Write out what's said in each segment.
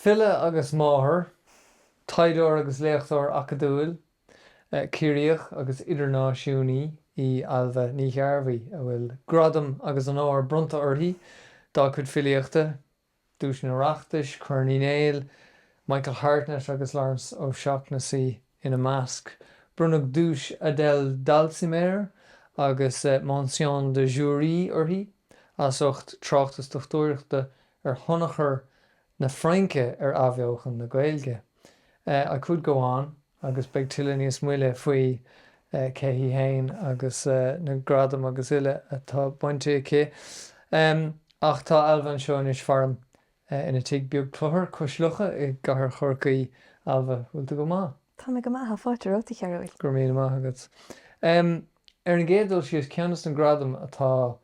File agus máthair, taighdeoir agus léachtóir acadúil, Ciarraíoch agus idirnáisiúnaí í Ailbhe Ní Ghearbhuigh a bhfuil gradaim agus onóir bronnta uirthi dá cuid filíochta, Duais an Oireachtais, Corn Uí Néill, Michael Hartnett agus Laurence O'Shaughnessy ina measc. Bronnadh duais Adele Dalsimer agus mention du jury uirthi as ucht tráchtas dochtúireachta ar thionchar na Fraince ar athbheochan na Gaeilge. I could go on. agus beidh tuilleadh níos moille faoi cé hí fhéin agus na gradaim agus uile atá bainte aici. Ach tá Ailbhe anseo anois faram ina tigh beag cluthar cois locha i gcathair Chorcaí. Ailbhe, bhfuil tú go maith? Tá mé go maith, tá fáilte romhat a Chearúil. Go raibh míle maith agat. Ar an gcéad dul síos, ceann de na gradaim atá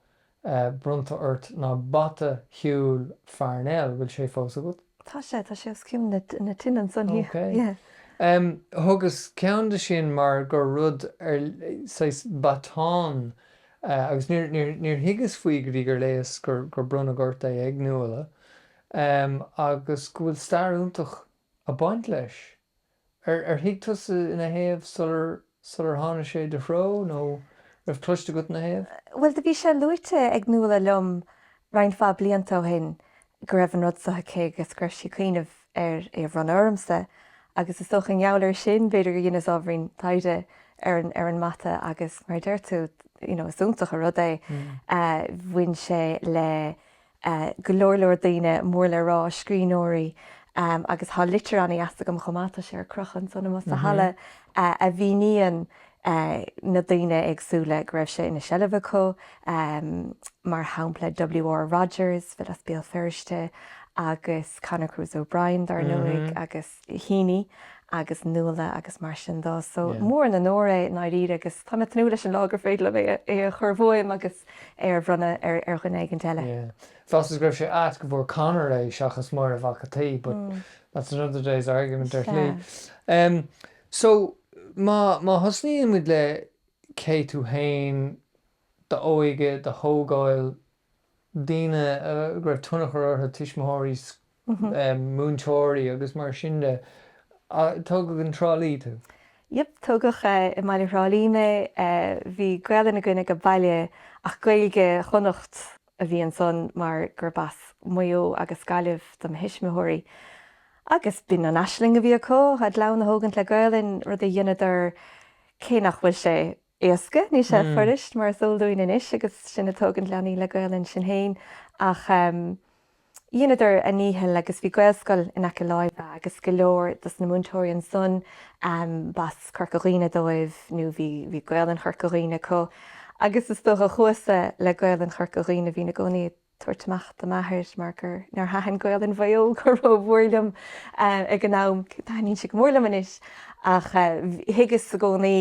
bronnta ort ná bata shiúil Pharnell, bhfuil sé fós agat? Tá sé, tá sé os cionn na tine ansan, yeah. Thugas ceann dó sin mar gur rud ar, saghas baton agus níor thuigeas faoi go dtí gur léigheas gur bronnadh ort é ag Nuala agus go bhfuil stair iontach ag baint leis. Ar ar thuig tusa ina thaobh sular sular tháinig sé i do threo nó raibh cloiste agat ina thaobh? Bhuel do bhí sé luaite ag Nuala liom roinnt mhaith blianta ó shin go raibh an rud so aici agus go raibh sí ag cuimhneamh ar é a bhronnadh ormsa agus is dócha i ngeall air sin b'fhéidir gur dheineas ábhairín taighde ar an ar an mbata agus mar a deir tú you know is iontach an rud é bhain sé le go leor leor daoine mór le rá, scríbhneoirí agus tá litir ana dheas agam chomh maith, tá sé ar crochadh ansan amuigh sa halla, a mhíníonn na daoine éagsúla go raibh sé ina seilbh acu, mar shampla WR Rodgers, file as Béal Feirste, agus Conor Cruise O'Brien, dar ndóigh, agus. Heaney agus Nuala agus mar sin de. So is mór an onóir é i ndáiríre agus tá mé ag tnúth leis an lá gur féidir liom é a chur uaim agus é a bhronnadh ar dhuine éigin eile. Yeah. Cheapas go raibh sé ait go bhfuair Conor é seachas Máire Mhac a' tSaoi but that's another day's argument ar shlí. Em so má, má thosnaíonn muid le cé tú féin, d'óige, do thógáil, daoine go raibh tionchar orthu, tuismitheoirí, múinteoirí agus mar sin de. Tógadh i dTrá Lí tú? Yep, tógadh i mbaile Thrá Lí mé. Bhí Gaolainn againne ag baile ach Gaeilge Chonnacht a bhí ansan mar gurb as Maigh Eo agus Gaillimh do mo thuismitheoirí. Agus b'in an aisling a bhí acu, a gclann a thógaint le Gaolainn, rud a dheineadar cé nach bhfuil sé éasca, níl sé fuirist mar is eol dúinn anois agus sinn ag tógaint leanaí le Gaolainn sinn féin, ach dheineadar a ndícheall agus bhí Gaelscoil in aice láimhe agus go leor dos na múinteoirí ansan b'as Corca Dhuibhne dóibh nó bhí Gaolainn Chorca Dhuibhne acu agus is dócha chuasa le Gaolainn Chorca Dhuibhne bhínn i gcónaí ag tabhairt amach do m'athair mar gur nár thaitin Gaolainn Mhaigh Eo go rómhór liom ag an am, taitníonn sí go mór liom anois, ach thuigeas i gcónaí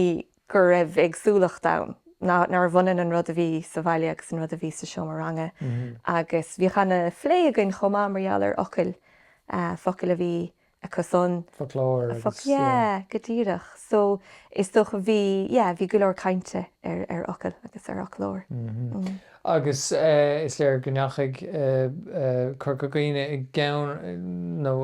go raibh éagsúlacht ann, nárbh ionann an rud a bhí sa bhaile agus an rud a bhí sa seomra ranga agus bhíodh ana phlé againn chomh maith mar gheall ar fhocail, focail a bhí acusan. Foclóir agus, yeah. Foclóir, yeah, go díreach. So, is dócha, bhí, yeah, bhí go leor cainte ar, ar fhocail agus ar fhoclóir. Mhm. Agus is léir go ndeachaigh Corca Dhuibhne i gceann, nó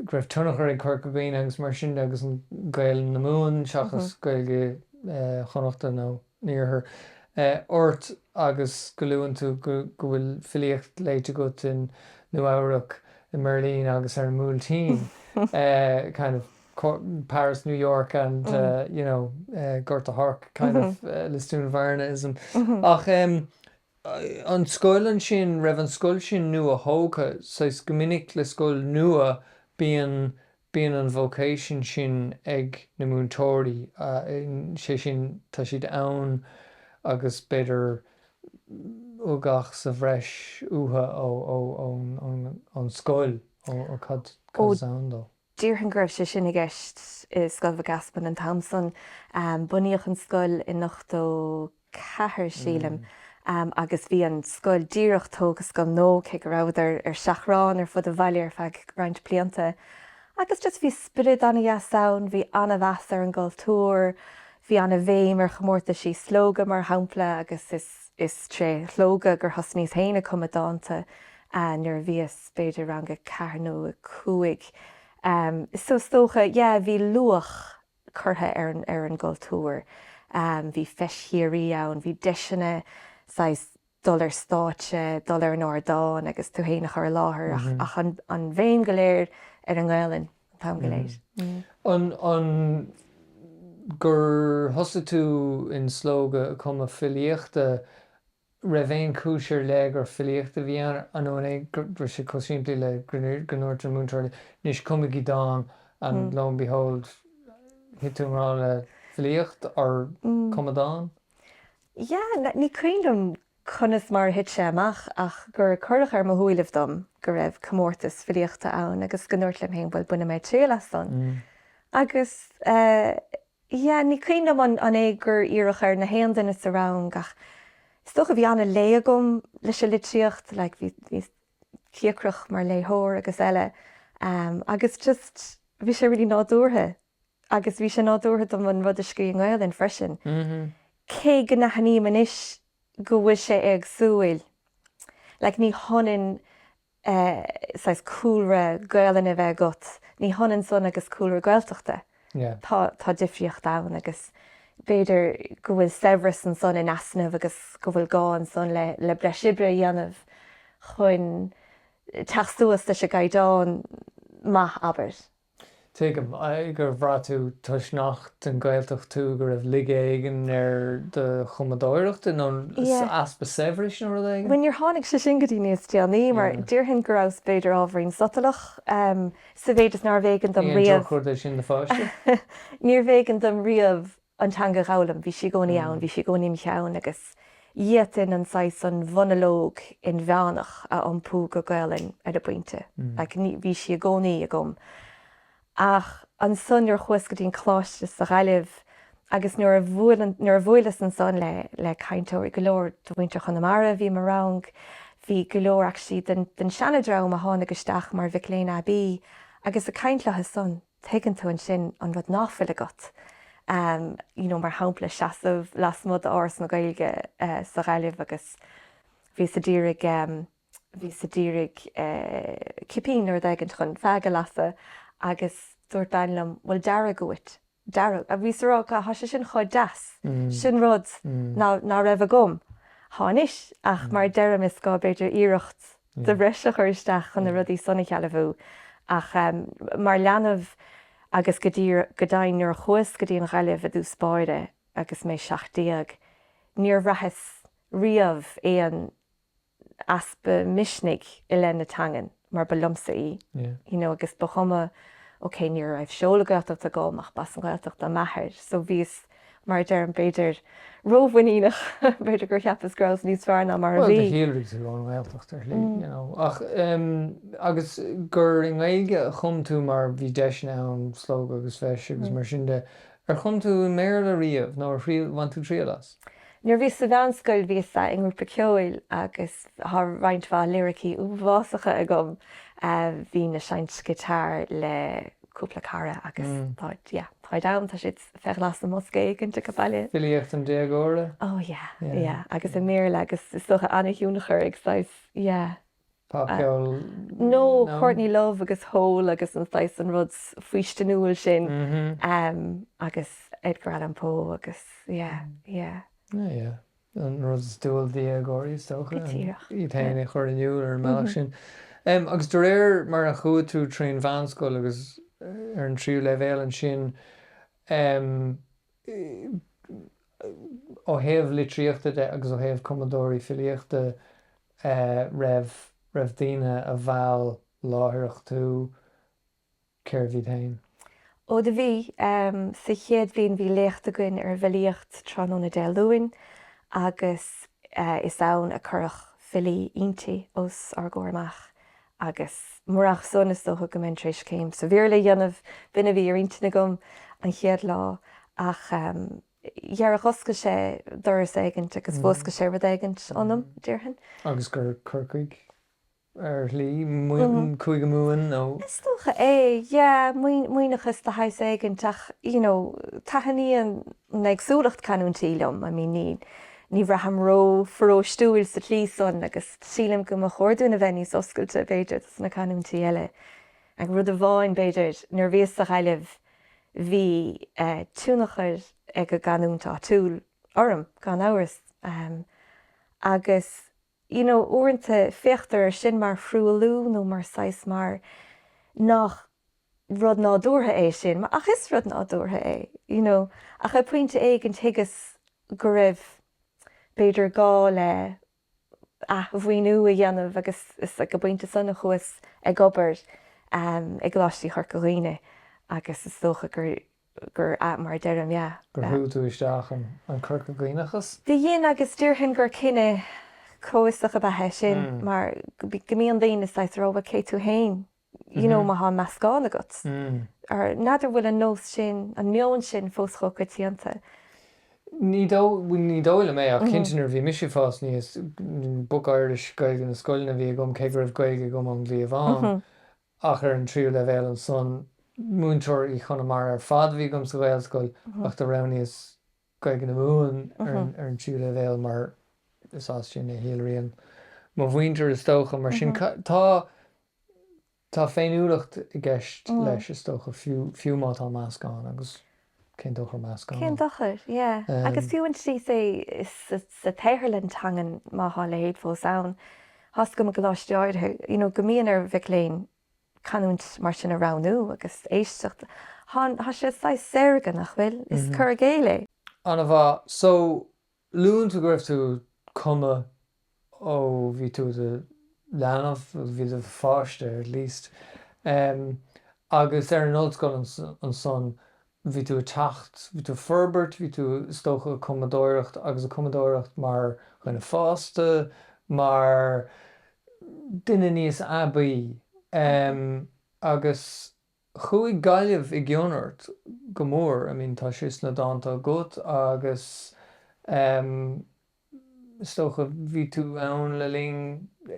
go raibh tionchar ag Corca Dhuibhne agus mar sin de agus an Ghaeilge na Mumhan seachas Gaeilge Chonnachta nó. an iarthair ort agus go luann tú go bhfuil filíocht léite agat i Nua-Eabhrac, i mBeirlín agus ar an mBuailtín, kind of Paris, New York and you know Gort a' Choirce, kind of Lisdoonvarnaism. Ach em an scoil ansin, raibh an scoil sin nua-thógtha, saghas go minic le scoil nua bíonn Bíonn an vocation sin ag na múinteoirí, sé sin tá siad ann agus b'fhéidir ugach sa bhreis uathu ó, an scoil, ó cad as ann dó. Déarfainn go raibh sé sin i gceist i Scoil Mhic Easmainn an t-am san. Bunaíodh an scoil in ochtó. ceathair, sílim, agus bhí an scoil díreach tógtha, scoil nua, cé go rabhadar ar seachrán ar fud an bhaile ar feadh roinnt blianta. Agus just bhí spiorad ana-dheas ann, bhí an-mheas ar an gcultúr, bhí an-bhéim ar chomórtaisí Slógadh, mar shampla, agus is tré Shlógadh gur thosnaíos féin ag cumadh dánta nuair a bhíos b'fhéidir rang a ceathair nó a cúig. Is dócha, yeah, bhí luach. curtha ar an gcultúr. Bhí Feis Chiarraí ann, bhí deiseanna saghas dul ar stáitse, dul ar an ardán agus tú féin a chur i láthair ach an bhéim go léir ar an nGaolainn an t-am go léir. An gur thosaigh tú i Slógadh ag cumadh filíochta raibh aon chúis ar leith gur filíocht a bhí ann, nó an é go raibh sé chomh simplí le go ndúirt an múinteoir libh, 'Anois cumaigí dán' and lo and behold thit tú i ngrá le filíocht ar chumadh dán? Yeah, ní cuimhin liom conas mar a thit sé amach ach gur cuireadh ar mo shúilibh dom go raibh comórtas filíochta ann agus go ndúrt liom féin, bhuel, bainfidh mé triail as san. Agus eh. Yeah, ní cuimhin liom an é gur iarradh ar na haon duine sa rang ach is dócha bhí an-lé agam leis an litríocht, like bhí, bhíos cíocrach mar léitheoir agus eile agus just bhí sé really nádúrtha agus bhí sé nádúrtha dom an rud a scrí i nGaolainn freisin, cé go n-aithním anois go bhfuil sé éagsúil, like ní hionann. saghas cúlra Gaolainne a bheith agat, ní hionann san agus cúlra Gaeltachta. Tá difríocht ann agus b'fhéidir go bhfuil saibhreas ansan in easnamh agus go bhfuil gá ansan le breis oibre a dhéanamh chun teacht suas leis an gcaighdeán maith, abair. Tuigim, agus ar bhraith tú toisc nach den Ghaeltacht tú go raibh laige éigin ar do chumadóireacht nó easpa saibhris nó rud éigin? Bhuel, níor tháinig sé sin go dtí níos déanaí mar déarfainn go rabhas b'fhéidir ábhairín sotalach sa mhéid is nárbh éigean dom riamh, níorbh éigean dom riamh an teanga a dh'fhoghlaim. Bhí sí i gcónaí ann, bhí sí i gcónaí im' cheann agus d'fhéadfainn an saghas, an mhonalóg inmheánach a iompú go Gaolainn ar an bpointe. Like, ní, bhí sí i gcónaí agam. Ach ansan nuair a chuas go dtí an coláiste sa Ghaillimh agus nuair a bhuail an, nuair a bhuaileas ansan le, le cainteoirí, go leor de mhuintir Chonamara a bhí i mo rang, bhí go leor actually den, den seanadream a tháinig isteach mar mhic léinn aibí agus ag caint leothu san. Tuigeann tú ansin an rud nach bhfuil agat, you know, mar shampla seasamh lasmuigh d'Áras na Gaeilge sa Ghaillimh agus bhíos a d'iarraidh, bhíos a d'iarraidh cipín nó rud éigint chun feaig a lasadh agus dúirt bean liom bhfuil deargadh uait, deargadh, bhíos a rá God tá sé sin chomh deas, sin rud ná raibh agam, tá anois ach mar a deirim is gá b'fhéidir iarracht de bhreis a chur isteach chun na rudaí san a shealbhú ach mar leanbh agus go dtí go deimhin nuair a chuas go dtí an Ghaillimh i dtús báire agus mé seacht déag níor bhraitheas riamh aon easpa misnigh i leith na teangan mar ba liomsa í you know agus ba chuma ok ní raibh seoladh Gaeltachta agam ach b'as an Ghaeltacht do m'athair so bhíos Mar a deirim, b'fhéidir rómhuiníneach, b'fhéidir gur cheapas go rabhas níos fearr ná mar a bhí. Bhuel, do shíolraigh tú ón nGaeltacht, ar shlí, you know. Ach, agus gur i nGaeilge a chum tú mar bhí deiseanna ann, Slógadh agus feis agus mar sin de. Ar chum tú i mBéarla riamh nó ar bhain tú triail as? Nuair a bhíos sa mheánscoil bhíos i ngrúpa ceoil agus tá roinnt mhaith liricí uafásacha agam. Bhínn ag seinnt giotár le cúpla cara agus tá, yeah, táid ann, tá siad bheith faoi ghlas i mbosca éigint age baile. Filíocht an déagóra? Oh yeah, yeah. Agus i mBéarla agus is dócha an-thionchar ag saghas, yeah. Pop-cheol? No, Courtney Love agus Hole agus an saghas, an rud faoistiniúil sin agus Edgar Allan Poe agus yeah, yeah. Yeah, yeah. an rud is dual d'dhéagóirí, is dócha, Go díreach. iad féin a chur in iúl ar an mbealach sin. Agus de réir mar a chuaigh tú tríd an mheánscoil agus ar an tríú leibhéal ansin, ó thaobh litríochta de agus ó thaobh cumadóirí filíochta, an raibh daoine a mheall láithreach tú? Cérbh iad féin? Ó do bhí, sa chéad bhliain bhí léacht againn ar an bhfilíocht tráthnóna Dé Luain agus is ann a cuireadh filí Innti os ár gcomhair amach agus murach san is dócha go mbeinn tar éis céim sa Bhéarla a dhéanamh, b'in a bhí ar intinn agam an chéad lá ach d'oscail sé doras éigint agus mhúscail sé rud éigint ionam, déarfainn. Agus gur Corcaigh ar shlí, Cúige Mumhan nó. Is dócha é, yeah, maoithneachas de shaghas éigint ach you know taitníonn an éagsúlacht canúintí liom, I mean ní ní bhraithim ró-pharóistiúil sa tslí san agus sílim go mba chóir dúinn a bheith níos oscailte b'fhéidir dos na canúintí eile. Ach rud amháin b'fhéidir, nuair a bhíos sa Ghaillimh bhí tionchar ag an gcanúint áitiúil orm gan amhras agus. you know uaireanta féachtar ar sin mar thruailliú nó mar saghas mar nach rud nádúrtha é sin ach is rud nádúrtha é you know ach ag pointe éigin thuigeas go raibh b'fhéidir gá le athmhaoiniú a dhéanamh agus is ag an bpointe san a chuas ag obair i gColáistí Chorca Dhuibhne agus is dócha gur gurb ea mar a deirim. Gur shúigh tú isteach an Corca Dhuibhneachas? Do dhein agus déarfainn gur cinneadh comhfhiosach ab ea é sin mar go mbíonn daoine saghas rómhat cé tú fhéin you know má thánn meascán agat. N'fheadar an bhfuil an nós sin, an meon sin fós chomh coitianta. Ní dóigh, ní dóigh liom é ach cinnte nuair a bhí mise ag fás aníos, book Irish, Gaeilge na scoileanna a bhí agam cé go raibh Gaeilge agam ón gcliabhán. ach ar an tríú leibhéal ansan. Múinteoirí Chonamara ar fad a bhí agam sa Ghaelscoil ach do roghnaíos Gaeilge na Mumhan ar an tríú leibhéal mar is as sin a shíolraíonn mo mhuintir is dócha mar sin tá tá féiniúlacht i gceist leis is dócha fiú má tá meascán agus cén dochar meascán Cén dochar? Yeah. Agus fiú an tslí sa sa tsaotharlann teangan má thá a leithéid fós ann, thá's agam i gcoláistí áirithe you know go mbíonn ar mhic léinn canúint mar sin a roghnú agus éisteacht thá thá sé saghas saorga nach bhfuil? Is cur i gcéill é. Ana-mhaith. So Luann tú go raibh tú ag cumadh ó bhí tú i do leanbh, ó bhí tú i do pháiste at least, agus ar an ollscoil ansan bhí tú ag teacht, bhí tú ag forbairt, bhí tú is dócha ag cumadóireacht agus ag cumadóireacht mar dhuine fásta, mar duine níos aibí agus. Chuaigh Gaillimh i gcion ort go mór, I mean tá sé sna dánta agat agus em is dócha bhí tú ann le linn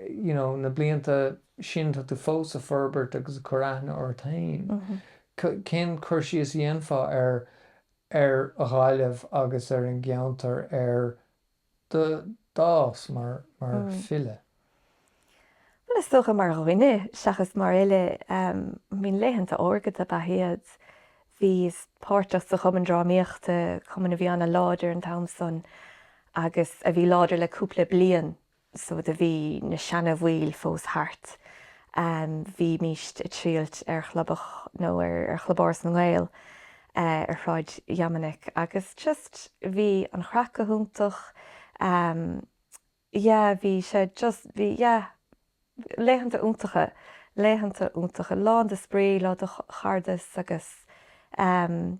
you know na blianta sin, tá tú fós a' forbairt agus a' cur aithne ort fhéin. Cén cur síos a dhéanfá ar ar Ghaillimh agus ar an gceantar ar do d'fhás mar file? Bhuel, is dócha mar dhuine seachas mar fhile. I mean laethanta órga dob ea iad. Bhíos páirteach sa Chumann Drámaíochta, cumann a bhí an-láidir an t-am san agus a bhí láidir le cúpla bliain so do bhí na seana-bhaill fós thart. Bhímíst ag triall ar chlubach nó ar Chlub Áras na nGael. eh ar Shráid Dhoiminic agus just bhí an chraic go hiontach ehm yeah bhí sé just bhí yeah laethanta iontacha, laethanta iontacha, lán de spraoi, lán de chairdeas agus ehm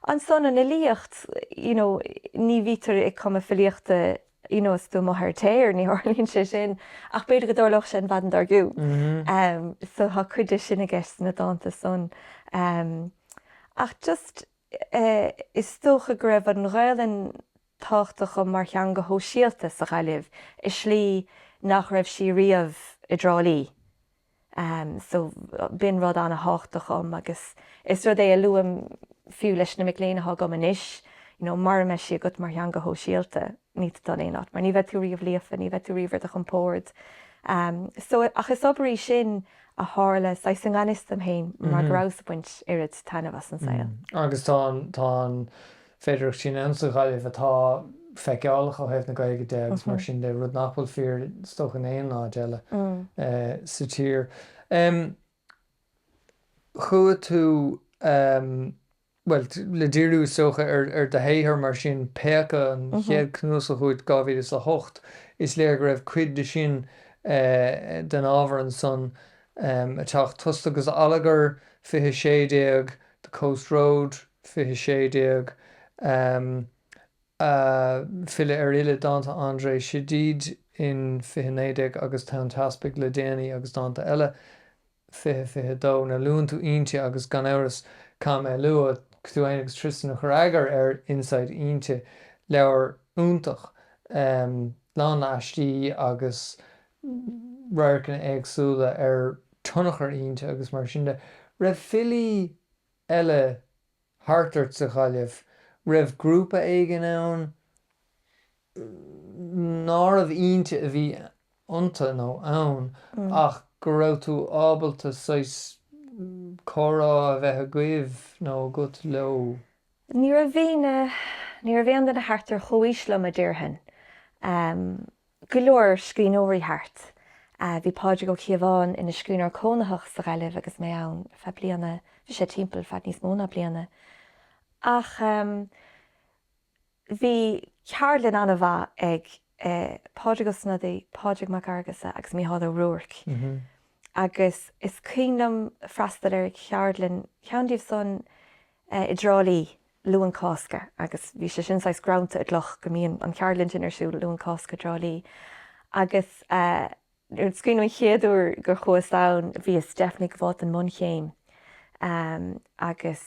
ansan an fhilíocht you know ní bhítear ag cumadh filíochta you know is tú amuigh ar an tear ní tharlaíonn sé sin ach b'fhéidir go dtarlódh sé an mhaidin dár gcionn em so tá cuid de sin i gceist sna dánta san em ach just eh is dócha go raibh an Ghaelainn tábhachtach dhom mar theanga shóisialta sa Ghaillimh i slí nach raibh sí riamh i dTrá Lí so b'in rud ana-thábhachtach dhom agus is rud é a luaim fiú leis na mic léinn atá agam anois, you know, mara mbeidh sí agat mar theanga shóisialta, níl tú ag dul in aon áit mar ní bheidh tú riamh líofa, ní bheidh tú riamh ar do chompord. so ach is obair í sin a tharla saghas i ngan fhios dom féin mar go rabhas ag baint oiread taitneamh as an saol. Agus tá an féidearthacht sin ann sa Ghaillimh atá feiceálach ó thaobh na Gaeilge de agus mar sin de, rud nach bhfuil fíor is dócha in aon áit eile sa tír. Chuaigh tú, bhuel, le díriú is dócha ar do shaothar mar sin, Péacadh, an chéad chnuasach uait 2008, is léir go raibh cuid de sin, den ábhar ansan ag teacht, Tost agus Allagar, 2016, The Coast Road, 2016, um, File ar Fhile, dánta Andrée Chedid in 2019 agus Tonn Teaspaigh le déanaí agus dánta eile, 2022. Nuair a luann tú Innti agus, gan amhras, caithfidh mé a lua tú fhéin agus Tristan a chuir eagar ar Inside Innti, leabhar iontach, lán aistí agus radharcanna éagsúla ar tionchar Innti agus mar sin de. raibh filí eile thart ort sa Ghaillimh? raibh grúpa éigin ann nárbh Innti a bhí iontu nó ann ach go raibh tú ábalta saghas comhrá a bheith agaibh nó agat leo? Ní raibh aon duine thart ar chomhaois liom a déarfainn. go leor scríbhneoirí thart. Bhí Pádraig Ó Cíobháin ina scríbhneoir cónaitheach sa Ghaillimh agus mé ann feadh bliana, bhí sé timpeall feadh níos mó ná bliana. Ach bhí ceardlann an-mhaith ag Pádraig Ó Snodaigh, Pádraig Mac Fhearghusa agus Mícheál Ó Ruairc agus is cuimhin liom freastal ar cheardlann ceann díobh san i dTrá Lí Luan Cásca agus bhí sé sin saghas greannta i gcloch go mbíonn an cheardlann sin ar siúl Luan Cásca i dTrá Lí agus is cuimhin an chéad uair gur chuas ann bhíos definitely ag gabháil don mbunchéim agus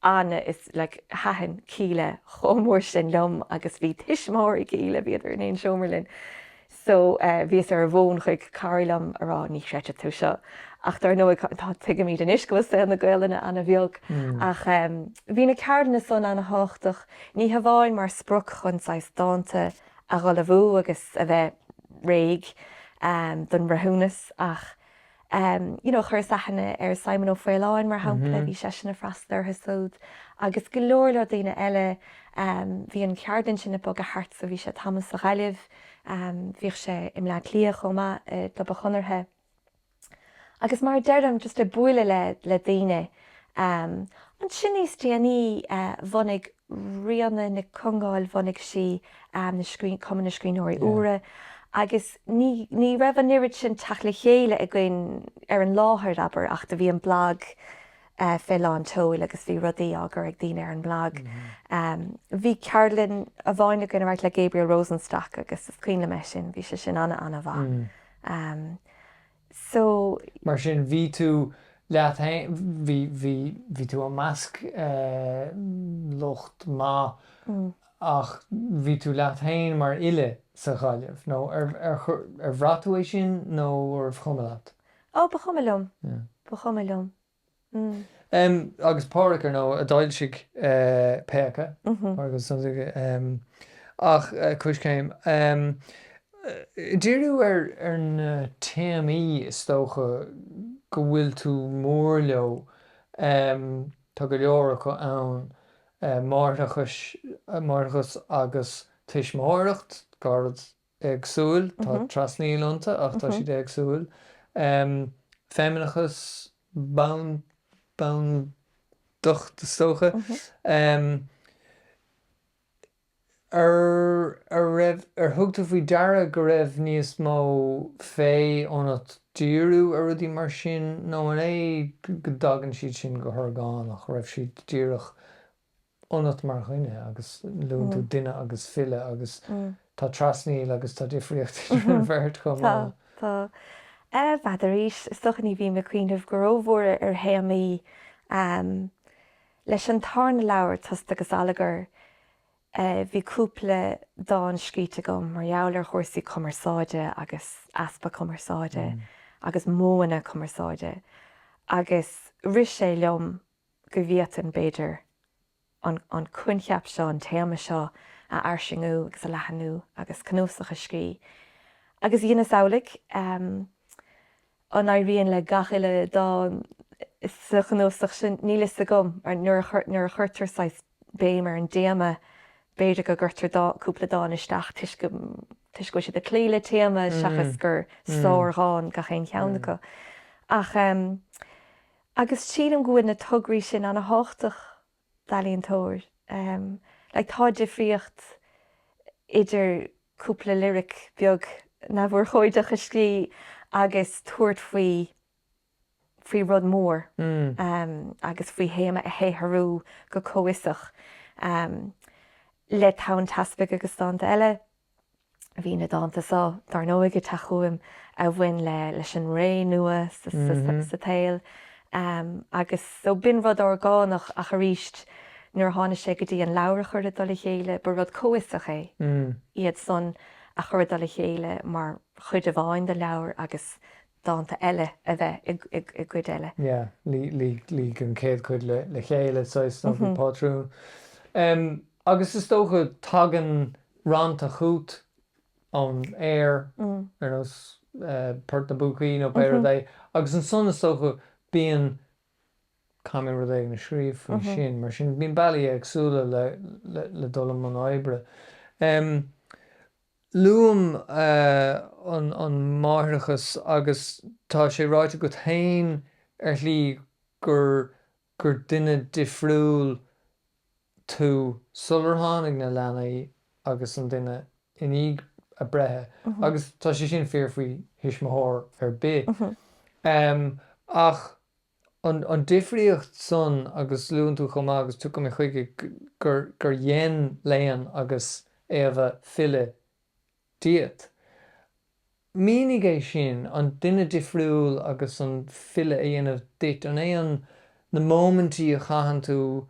Anna is like thaitin Kíla chomh mór sin liom agus bhí tuismitheoirí Kíla, bhíodar in aon seomra linn. so eh bhíos ar an bhfón chuig cara liom á rá ní chreidfidh tú seo ach dar ndóigh tá, tuigimid anois go bhfuil saol na Gaolainne ana bheag ach em bhí na ceardlanna san ana thábhachtach ní hamháin mar sprioc chun saghas dánta a ullmhú agus a bheith réidh em don mbreithiúnas ach em you know chuireas aithne ar Simon Ó Faoláin mar shampla bhí seisean a' freastal ortha súd agus go leor leor daoine eile em bhí an cheardlann sin a' bogadh thart so bhí sé tamall sa Ghaillimh em bhíodh sé i mBleá Cliath chomh maith i gClub an Chonartha agus mar a deirim just a' bualadh le le daoine eh Ansin níos déanaí bhunaigh Ríona Nic Congáil, bhunaigh sí Cumann na Scríbhneoirí Úra agus ní raibh an oiread sin teacht le chéile againn ar an láthair, abair, ach do bhí an blag fé lán tseoil agus bhí rudaí á gcur ag daoine ar an mblag. Bhí ceardlann amháin againn, a raibh le Gabriel Rosenstock agus is cuimhin liom é sin, bhí sé sin ana-ana-mhaith. so. Mar sin, bhí tú leat féin, bhí, bhí, bhí tú i measc lucht maith ach bhí tú leat féin mar fhile sa Ghaillimh nó ar, ar, ar bhraith tú é sin nó arbh chuma leat? Oh, ba chuma liom, ba chuma liom. agus Pádraic, ar ndóigh, a d'fhoilsigh Péacadh, ach Coiscéim. Díriú ar na téamaí is dócha go bhfuil tú mór leo, tá go leor acu ann, máithreachas agus tuismitheoireacht, éagsúil, tá trasnaíl iontu ach tá siad éagsúil. Feimineachas, bandacht is dócha. An raibh, ar thug tú faoi deara go raibh níos mó féith ionat díriú ar rudaí mar sin nó an é go dtagann siad sin go horgánach, raibh siad díreach ionat mar dhuine agus luann tú duine agus file agus tá trasnaíl agus tá difríocht idir an bheirt chomh maith. Tá, tá. Eh, bfhad arís, is dócha ní bhím ag cuimhneamh go ró-mhór ar théamaí ehm leis an tarna leabhar, Tost agus Allagar, eh bhí cúpla dán scríte agam mar gheall ar chúrsaí cumarsáide agus easpa cumarsáide agus modhanna cumarsáide agus rith sé liom go bhféadfainn, b'fhéidir, an coincheap seo, an téama seo a fhairsingiú agus a leathanú agus cnuasach a scrí. Agus dheineas amhlaidh. An éiríonn le gach uile dán sa chnuasach sin? Níl fhios agam. Nuair a chuirtear saghas béim ar an dtéama, b'fhéidir go gcuirtear cúpla dán isteach toisc go bhfuil siad ag cloí le téama seachas gur sár dhán gach aon cheann acu. Ach. agus sílim go bhfuil na tograí sin ana thábhachtach d'ealaíontóir like tá difríocht idir cúpla liric beag neamhurchóideach a scríobh agus tabhairt faoi faoi rud mór agus faoi théama a shaothrú go comhfhiosach le Tonn Teaspaigh agus Dánta Eile. Bhí na dánta so, dár ndóigh, ag teacht chugam a bhain le leis an ré nua sa tsaol agus so b'in rud orgánach ach arís nuair a tháinig sé go dtí an leabhar a chur i dtoll a chéile ba rud comhfhiosach é iad san a chur i dtoll a chéile mar chuid amháin den leabhar agus dánta eile a bheith i gcuid eile. Yeah, luigh an chéad chuid le chéile saghas nó bhí pátrún. Agus is dócha tagann rannta chút ón aer ar nós Port na bPúcaí nó pé rud é agus ansan is dócha bíonn, caithfidh mé rud éigin a scríobh faoi sin. Mar sin bíonn bealaí éagsúla le dul i mbun oibre. Luaim an máithreachas agus tá sé ráite agat féin ar shlí gur gur duine difriúil tú sular tháinig na leanaí agus an duine i ndiaidh a breithe agus tá sé sin fíor faoi thuismitheoir ar bith. Ach an difríocht san, agus luann tú chomh maith agus tiocfaidh mé chuige, gur dhein Leon agus Éabha file díot. Mínigh é sin, an duine difriúil agus an file a dhéanamh duit. An é an na móimintí a chaitheann tú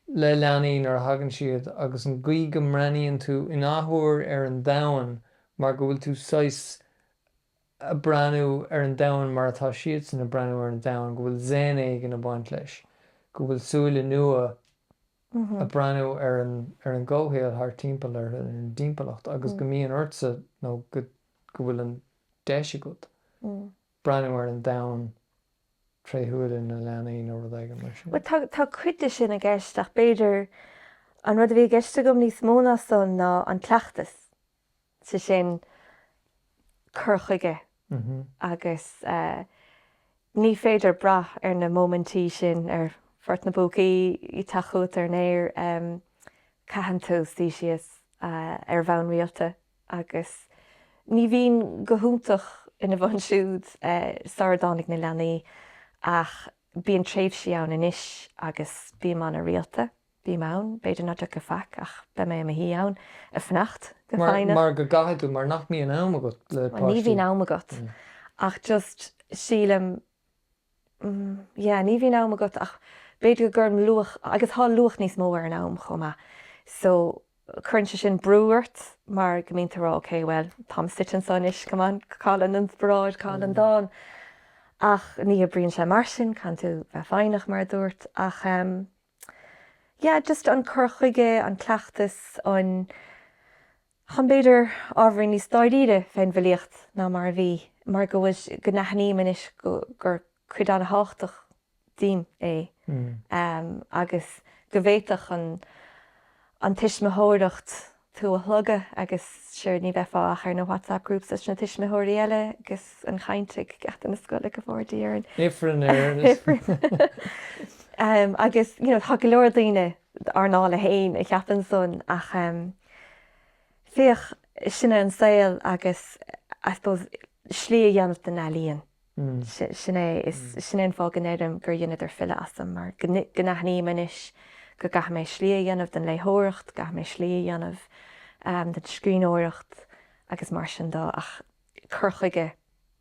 le leanaí nuair a thagann siad agus an gcaoi go mbreathnaíonn tú in athuair ar an domhan mar go bhfuil tú saghas ag breathnú ar an domhan mar atá siadsan ag breathnú ar an domhan, go bhfuil zen éigin ag baint leis, go bhfuil súile nua ag breathnú ar an gcomhshaol thart timpeall orthu, ar an dtimpeallacht agus go mbíonn ortsa nó go bhfuil an deis agat breathnú ar an domhan tré shúile na leanaí nó rud éigin mar sin. Bhuel tá cuid de sin i gceist ach b'fhéidir an rud a bhí i gceist agam níos mó ná san ná an cleachtas. sé sin cur chuige agus ní féidir brath ar na móimintí sin, ar Phort na bPúcaí, teacht chugat ar an aer, caitheann tú suí síos ar bhonn rialta agus ní bhínn go hiontach ina bhun siúd sara dtáinig na leanaí ach bíonn tréimhsí ann anois agus bím ana-rialta. Bím ann, b'fhéidir nach dtiocfaidh faic ach beidh mé i mo shuí ann, ag fanacht go foighneach. Mar go gcaithfidh tú, mar nach mbíonn am agat le páistí. Ní bhíonn am agat ach just sílim, yeah ní bhíonn am agat ach b'fhéidir go gcuirim luach, agus tá luach níos mó ar an am chomh maith so cuireann sé sin brú ort mar go mbíonn tú ag rá ok bhuel táim suite anseo anois come on cá bhfuil an inspioráid, cá bhfuil an dán ach ní oibríonn sé mar sin, caithfidh tú bheith foighneach mar a dúirt ach eh. yeah just an cur chuige, an cleachtas, ag tógaint b'fhéidir ábhairín níos dáiríre fén bhfilíocht ná mar a bhí mar go bhfuil go n-aithním anois gur cuid an-thábhachtach díom é agus go bhféadfadh an tuismitheoireacht tú a shlogadh agus sure ní bheifeá ach ar na whatsapp groups leis na tuismitheoirí eile agus an chaint ag gach geata na scoile go bhfóire Dia orainn. Ifreann ar an ifreann. Em agus you know tá go leor daoine ár ndála fhéin a cheapann sonas ach em féach sin é an saol agus I suppose slí a dhéanamh den ealaíon. Sin é. Is sin é an fáth go n-éirím gur dheineamar file asam, mar go n-aithním anois go gcaithfidh mé slí a dhéanamh den léitheoireacht, caithfidh mé slí a dhéanamh den scríbhneoireacht agus mar sin dó ach cur chuige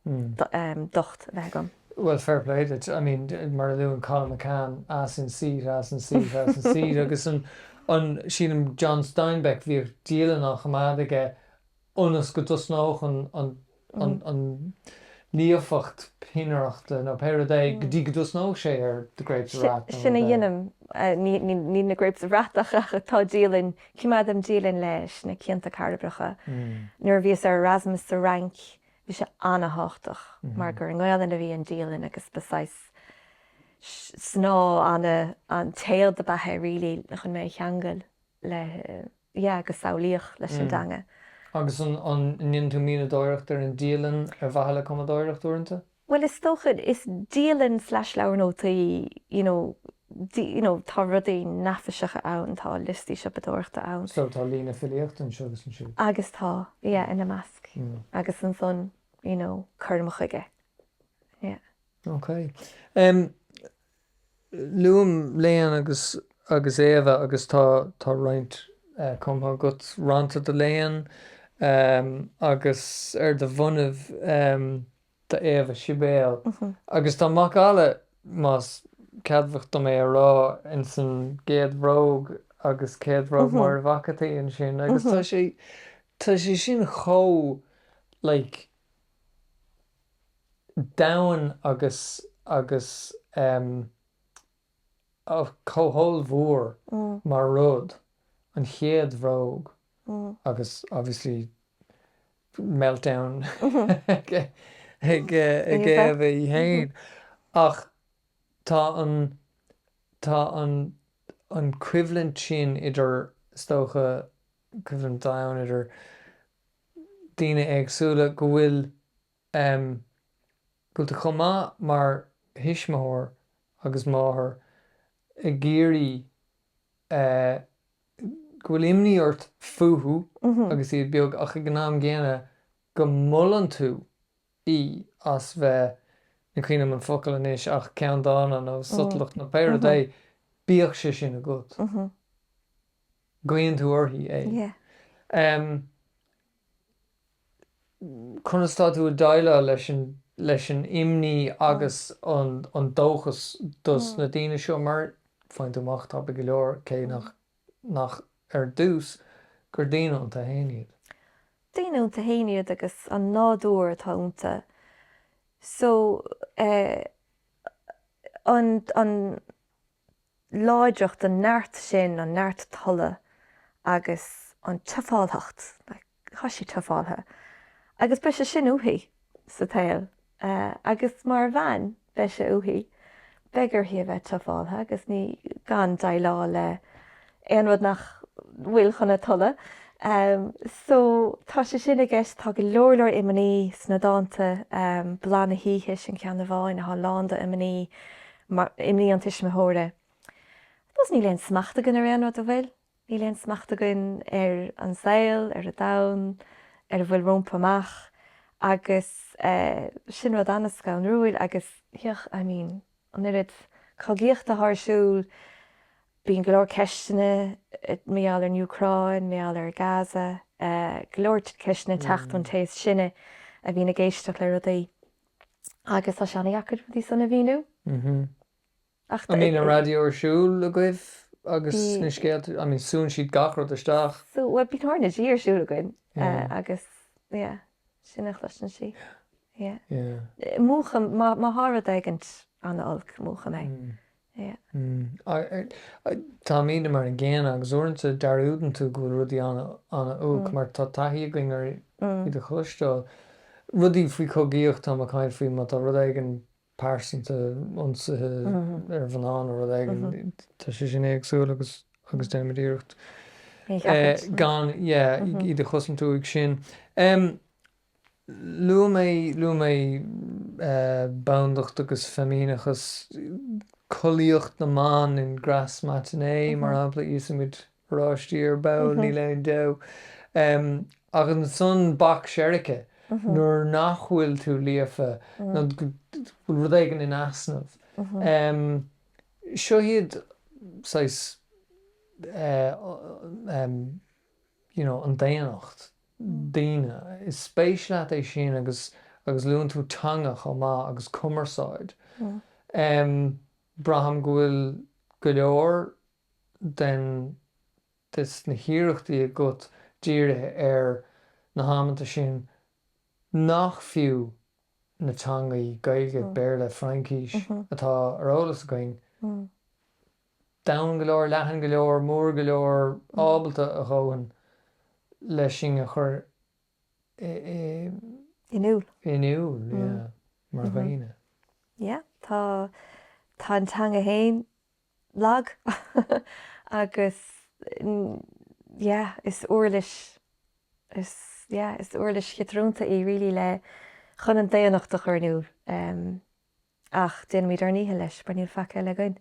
docht a bheith agam. Bhuel, fair play duit. I mean, mar a luann Colum McCann, ass in seat, ass in seat, ass in seat agus an, sílim, John Steinbeck, bhíodh dialann á choimeád aige ionas go dtosnódh an líofacht peannaireachta, nó pé rud é, go dtí go dtosnódh sé ar The Grapes of Wrath nó rud eile. Sin a dhéanaim. Ní na Grapes of Wrath ach tá dialann, coimeádaim dialann leis na cianta cairbreacha. Nuair a bhíos ar Erasmus sa Fhrainc bhí sé ana-thábhachtach mar gur i nGaelainn a bhí an dialann agus ba saghas snáth, an an téad ab ea é really chun mé a cheangal le. yeah agus samhlaíoch leis an dteanga. Mm. Agus an ndéanann tú mianadóireacht ar an dialann ar mhaithe le cumadóireacht uaireanta? Bhuel is dócha, is dialann slash leabhar nótaí you know you know tá rudaí neafaiseacha ann, tá liostaí siopadóireachta ann. So tá líne filíochta anseo agus ansiúd? Agus tá, yeah ina measc. Mm. Agus ansan you know cuirim chuige. Yeah. Okay. Em. Luaim Leon agus Éabha agus tá tá roinnt cumtha agat. Rannta do Leon agus ar do bhonnaibh do Éabha Sibéal. Agus tá macalla, más ceadmhach dom é a rá, ins an gcéad bhróg ag céad bhróg Máire Mhac a' tSaoi ansin agus tá sé tá sé sin chomh like. domhain agus agus em oh chomh hollmhór mar rud, an chéad bhróg agus obviously meltdown ag ag ag Éabha í fhéin ach tá an tá an an choimhlint sin idir is dócha coimhlint dhomhain idir daoine éagsúla go bhfuil go bhfuil tú chomh maith mar thuismitheoir agus máthair ag iarraidh go bhfuil imní ort fúthu agus iad beag ach ag an am gcéanna go molann tú í as bheith, ní chuimhním an focal anois, ach ceanndána nó sotalach nó pé rud é, bíodh sé sin agat, guíonn tú uirthi é. Conas atá tú ag déileáil leis an imní agus an dóchas dos na daoine seo mar, faigheann tú amach, tapa go leor, cé nach nach ar dtús gur daoine iontu fhéin iad? Daoine iontu fhéin iad agus an nádúr atá iontu so eh an an láidreacht an neart sin an neart tola agus an tuffálthacht like. tá sí tuffáltha agus beidh sé sin uaithi sa tsaol agus mar bhean beidh sé uaithi, beidh uirthi a bheith tuffáltha agus ní gan déileáil le aon rud nach bhfuil chun a tola. So tá sé sin i gceist, tá go leor leor imní sna dánta, Bláth na hOíche sin ceann amháin atá lán do imní, imní an tuismitheora. 'Cause níl aon smacht againn ar aon rud, an bhfuil? Níl aon smacht againn ar an saol, ar an domhan, ar an bhfuil rómpa amach agus sin rud an-scanrúil agus yeah, I mean, an oiread cogaíochta atá ar siúl, bíonn go leor ceisteanna mar gheall ar an Úcráin, mar gheall ar Gaza, go leor ceisteanna ag teacht ón té is sine a bhíonn ag éisteacht le rudaí agus tá sé an-deacair rudaí san a mhíniú. Ach An mbíonn an raidió ar siúl agaibh agus na scéalta, I mean súnn siad gach rud isteach? Súnn, bhuel bíonn RnaG ar siúl againn agus yeah, sin a chloiseann sí. Yeah, yeah. Múchaim, má thá rud éigint an-olc, múchaim é. Yeah. Táimidne mar an gcéanna agus uaireanta dearúdann tú go bhfuil rudaí an-olc mar tá taithí againn ar iad a chloisteáil. Rudaí faoi chogaíocht táim ag caint faoi, má tá rud éigin pearsanta, ionsaithe ar mhná nó rud éigin, tá sé sin éagsúil agus déanaimid iarracht gan iad a chosaint uaidh sin. Luaigh mé bandacht agus feimineachas, collaíocht na mban in Grasse Matinée mar shampla, íosfaimid oráistí ar ball, níl aon deabhadh ach ansan Bac Seirce nuair nach bhfuil tú líofa nó rud éigin in easnamh. Seo iad saghas you know an daonnacht, daoine. Is spéis leat é sin agus agus luann tú teanga chomh maith agus cumarsáid. Braithim go bhfuil go leor den de sna hiarrachtaí agat dírithe ar na hamanta sin nach fiú na teangaí Gaeilge, Béarla, Fraincís atá ar eolas againn, domhain go leor, leathan go leor, mór go leor, ábalta a dhóthain leis sin a chur in iúl, in iúl, yeah, mar dhaoine? Yeah, tá, tá an teanga féin lag agus yeah is uirlis is yeah is uirlis chiotrúnta í really le chun an daonnacht a chur in iúl em ach déanaimid ár ndícheall leis mar níl faic eile againn.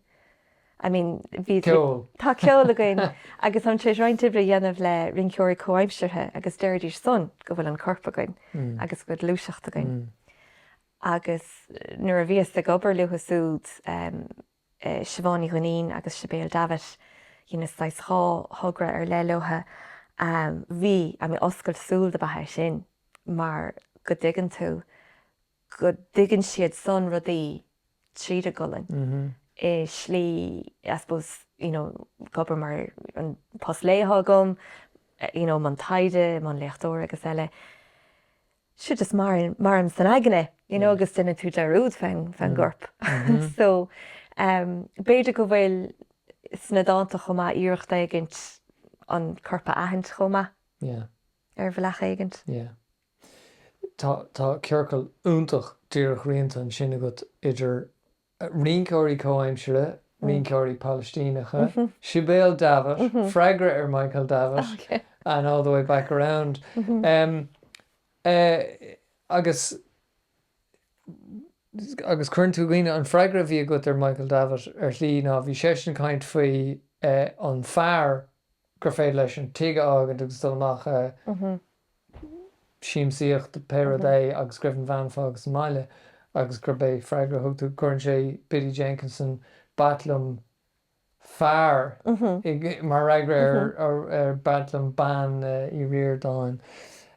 I mean bhí ceol tá ceol againn agus táim tar éis roinnt oibre a dhéanamh le rinceoirí comhaimseartha agus deiridís son go bhfuil an corp againn mm. agus go bhfuil gluaiseacht againn. Mm. agus nuair a bhíos ag obair leothu súd um, Siobhán Ní Dhuinnín agus Sibéal Davitt, dheineas saghas dhá thogra ar leith leothu. Bhí an-oscailt súl ab ea é sin mar go dtuigeann tú go dtuigeann siad san rudaí tríd a gcolainn i slí I suppose you know ag obair mar an post lae atá agam, you know i mbun taighde, i mbun léachtóir agus eile. seo just maireann maireann san aigne you know agus déanann tú dearúd fén fén gcorp so um b'fhéidir go bhfuil sna dánta chomh maith iarracht éigint an corp a aithint chomh maith yeah ar bhealach éigint yeah tá tá ciorcal iontach díreach rianta ansin agat idir Rinceoirí comhaimseartha, rinceoirí Palaistíneacha, Sibéal Davitt, freagra ar Michael Davitt, and all the way back around, agus, agus cuireann tú i gcuimhne, an freagra a bhí agat ar Michael Davitt, ar shlí, ná bhí seisean ag caint faoi an fear gur féidir leis an tigh a fhágaint agus dul amach a, siamsaíocht, pé rud é, agus go raibh an bhean fágtha sa mbaile agus gurb é an freagra a thug tú, cuireann sé Biddy Jenkinson, B'ait liom fear, mar fhreagra ar B'ait liom bean Uí Ríordáin.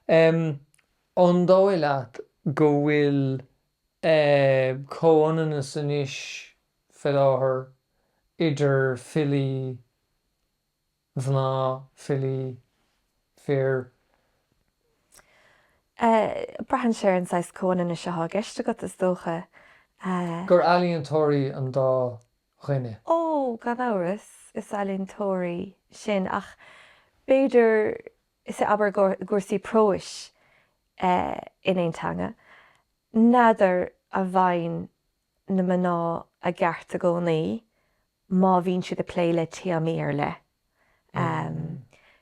An dóigh leat go bhfuil comhionannas anois, faoi láthair, idir filí mná, filí, fir. Braitheann sé ar an saghas comhionannais atá i gceist agat, is dócha. gur ealaíontóirí an dá dhuine? Ó, gan amhras, is ealaíontóirí sinn ach b'fhéidir, sea, abair i gcúrsaí próis in aon teanga, n'fheadar an bhfaigheann. na mná i gceart i gcónaí má bhíonn siad ag plé le téamaí ar leith.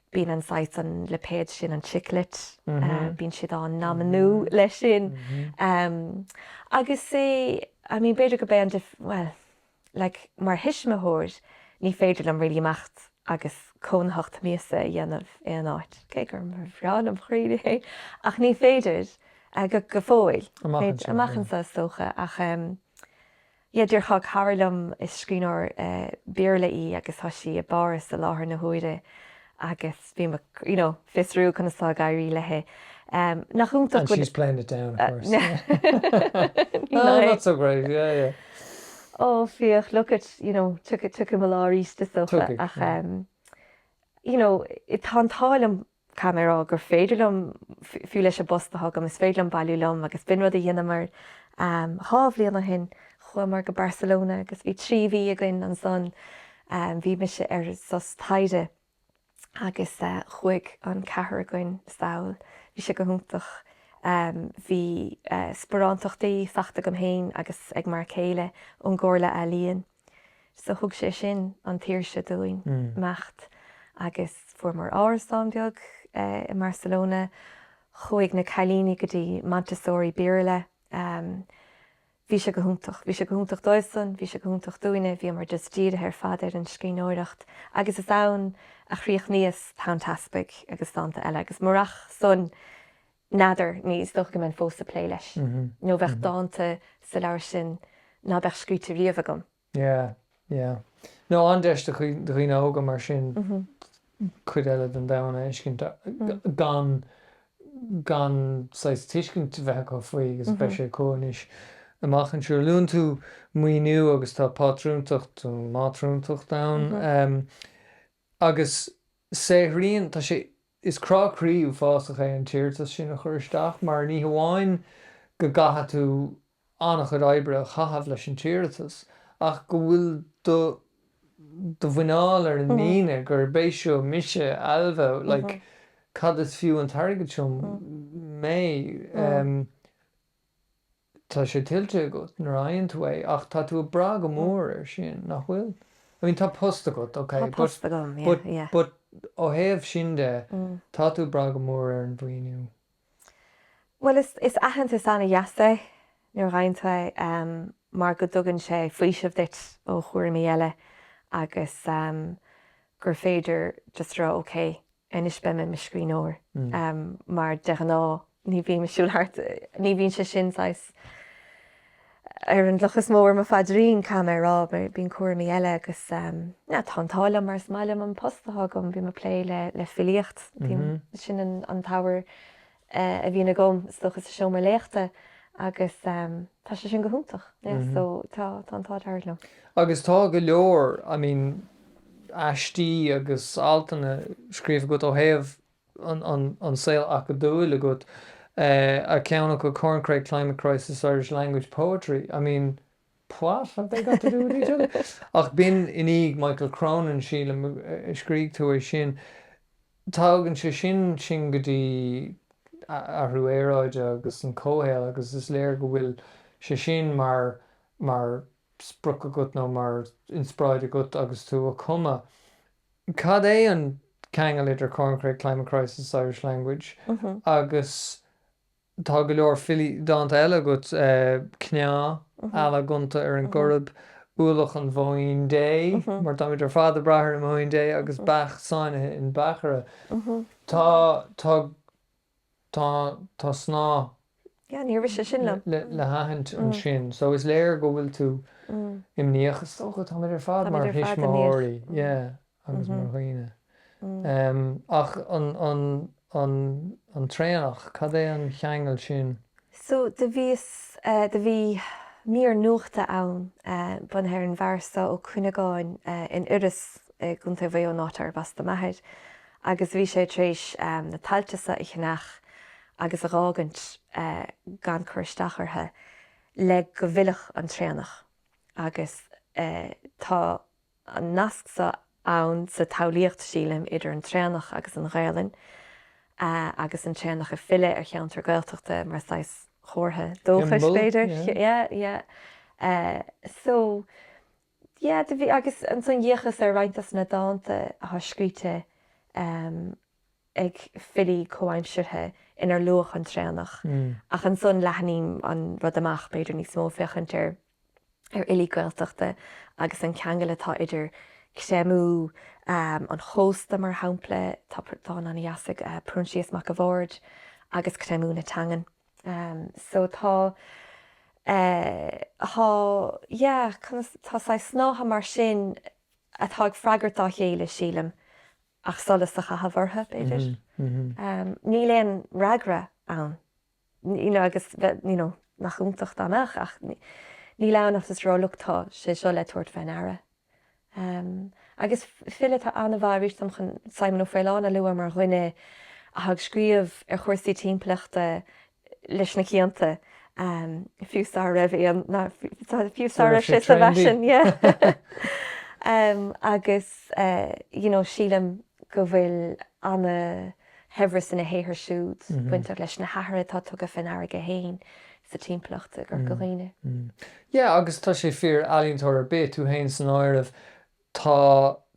Bíonn an saghas, an lipéad sin, an Chick Lit, bíonn siad á n-aimniú leis sin. Agus, I mean, b'fhéidir go mbeidh an, bhuel, like, mar thuismitheoir ní féidir liom really imeacht agus cónaitheacht míosa a dhéanamh aon áit, cé gur bhreá le mo chroí é, ach ní féidir. go fóill. Amach anseo. Amach anseo is dócha ach em yeah dúirt cara liom is scríbhneoir Béarla í agus tá sí i bPáras i láthair na huaire agus bhí mé you know ag fiosrú conas atá ag éirí leithe em nach iontach and she's playing it down of course yeah no not so great yeah yeah oh féach look at you know tiocfaidh tiocfaidh mo lá arís is dócha ach em you know tá an t-ádh liom Caithfidh mé a rá gur féidir liom, fiú leis an bpost atá agam, is féidir liom bailiú liom agus b'in rud a dheineamar. Dhá bhliain ó shin chuamar go Barcelona agus bhí trí mhí againn ansan. Bhí mise ar sos taighde agus chuaigh an ceathrar againn sall. Bhí sé go hiontach. Bhí sparántachtaí faighte agam féin agus ag m'fhear céile ón gComhairle Ealaíon. So thug sé sin an tsaoirse dúinn imeacht agus fuaireamar árasán beag i mBarcelona. Chuaigh na cailíní go dtí Montessori Béarla. Bhí sé go hiontach. Bhí sé go hiontach dóibhsan, bhí sé go hiontach dúinne, bhíomar just dírithe ar fad ar an scríbhneoireacht agus is ann a chríochnaíos Tonn Teaspaigh agus dánta eile agus murach san, N'fheadar, ní dócha go mbeinn fós ag plé leis nó bheadh dánta sa leabhar sin ná beadh scríte riamh agam. Yeah, yeah. Nó an-deis do dhaoine óga mar sin cuid eile den domhan a fheiscint gan, gan saghas tuiscint bheith acu faoi agus beidh sé acu anois amach anseo. Luann tú maoiniú agus tá pátrúntacht, mátrúntacht ann. agus saothraíonn, tá sé, is crá croí uafásach é an t-iarratas sin a chur isteach mar ní hamháin go gcaithfidh tú an-chuid oibre a chaitheamh leis an t-iarratas ach go bhfuil do do mhuineál ar an líne gurb é seo mise, Ailbhe, like cad is fiú an t-airgead seo, mé. Tá sé tuillte agat nuair a fhaigheann tú é ach tá tú ag brath go mór air sin, nach bhfuil? I mean, tá post agat, ok, but ó thaobh sin de, tá tú ag brath go mór ar an mhaoiniú. Bhuel, is, is aitheantas an-deas é nuair a fhaigheann tú é mar go dtugann sé faoiseamh duit ó chúraimí eile agus gur féidir just a rá, ok, anois beidh mé i mo scríbhneoir mar de ghnáth, ní bhím ag siúl timpeall thart, ní bhíonn sé sin saghas, ar an loch is mó ar mo phaidrín caithfidh mé a rá, bíonn cúraimí eile agus yeah tá an t-ádh liom mar is maith liom an post atá agam, bím ag plé le le filíocht, bím, sin an an t-abhar a bhíonn agam is dócha sa seomra léachta agus tá sé sin go hiontach yeah so tá tá an t-ádh dearg liom. Agus tá go leor I mean aistí agus altanna scríofa agat ó thaobh an saol acadúil agat ar cheann acu Corncrake Climate Crisis Irish Language Poetry I mean what have they got to do with each other ach b'in in éineacht le Michael Cronin, sílim, a scrígh tú é sin. Tagann sé sin sin go dtí athrú aeráide agus an comhshaol agus is léir go bhfuil sé sin mar mar sprioc agat nó mar inspioráid agat agus tú a' cumadh. Cad é an ceangal idir Corncrake Climate Crisis Irish language? Agus tá go leor filí, dánta eile agat, cneá, eala gonta ar an gCoirib, ualach an bhóín Dé, mar táimid ar fad ag brath ar an mbóín Dé, agus beach sáinnithe in beachaire. Tá. Tá, tá snáth. Yeah, ní rith sé sin liom. le haithint ansin. So is léir go bhfuil tú imníoch. Is dócha, táimid ar fad mar thuismitheoirí, yeah, agus mar dhaoine. Ach an, an, an, an traonach, cad é an ceangal sin? So, do bhíos, do bhí mír nuachta ann bunaithe ar an bhfear so, Ó Cuinneagáin, in Iorras i gContae Mhaigh Eo, an áit arb as do m'athair, agus do bhí sé tar éis na tailte so a cheannach agus a dh'fhágaint gan cur isteach orthu le go bhfillfeadh an traonach agus tá, an nasc so ann sa tsamhlaíocht, sílim, idir an traonach agus an Ghaelainn, agus an traonach ag filleadh ar cheantar Gaeltachta mar saghas comhartha dóchais, b'fhéidir. Yeah, yeah. So, yeah, do bhí, agus ansan d'fhéachas ar roinnt dos na dánta atá scríte ag filí comhaimseartha inar luadh an traonach ach ansan leathnaím an rud amach, b'fhéidir, níos mó ag féachaint ar ar fhilí Gaeltachta agus an ceangal atá idir creimeadh an chósta, mar shampla, tá dán an-deas ag Proinsias Mac a' Bhaird, agus creimeadh na teangan. So tá eh, tá yeah, conas, tá saghas snáithe mar sin atá ag freagairt dá chéile, sílim, ach solas a chaitheamh orthu, b'fhéidir. Níl aon fhreagra ann. you know agus you know nach iontach amach ach níl ann ach just a rá look tá sé seo le tabhairt faoi ndeara. Um agus file atá an-mhaith arís dom chun Simon Ó Faoláin a lua mar dhuine a tá ag scríobh ar chúrsaí timpeallachta leis na cianta um fiú sara raibh aon ná fiú sara raibh sé sa bhfaisean yeah um agus uh you know sílim go bhfuil an-shaibhreas ina shaothar siúd bainteach leis na hathruithe atá tugtha faoi ndeara aige féin sa timpeallacht i gCorca Dhuibhne. Yeah agus tá sé fíor, ealaíontóir ar bith, tú féin san áireamh, tá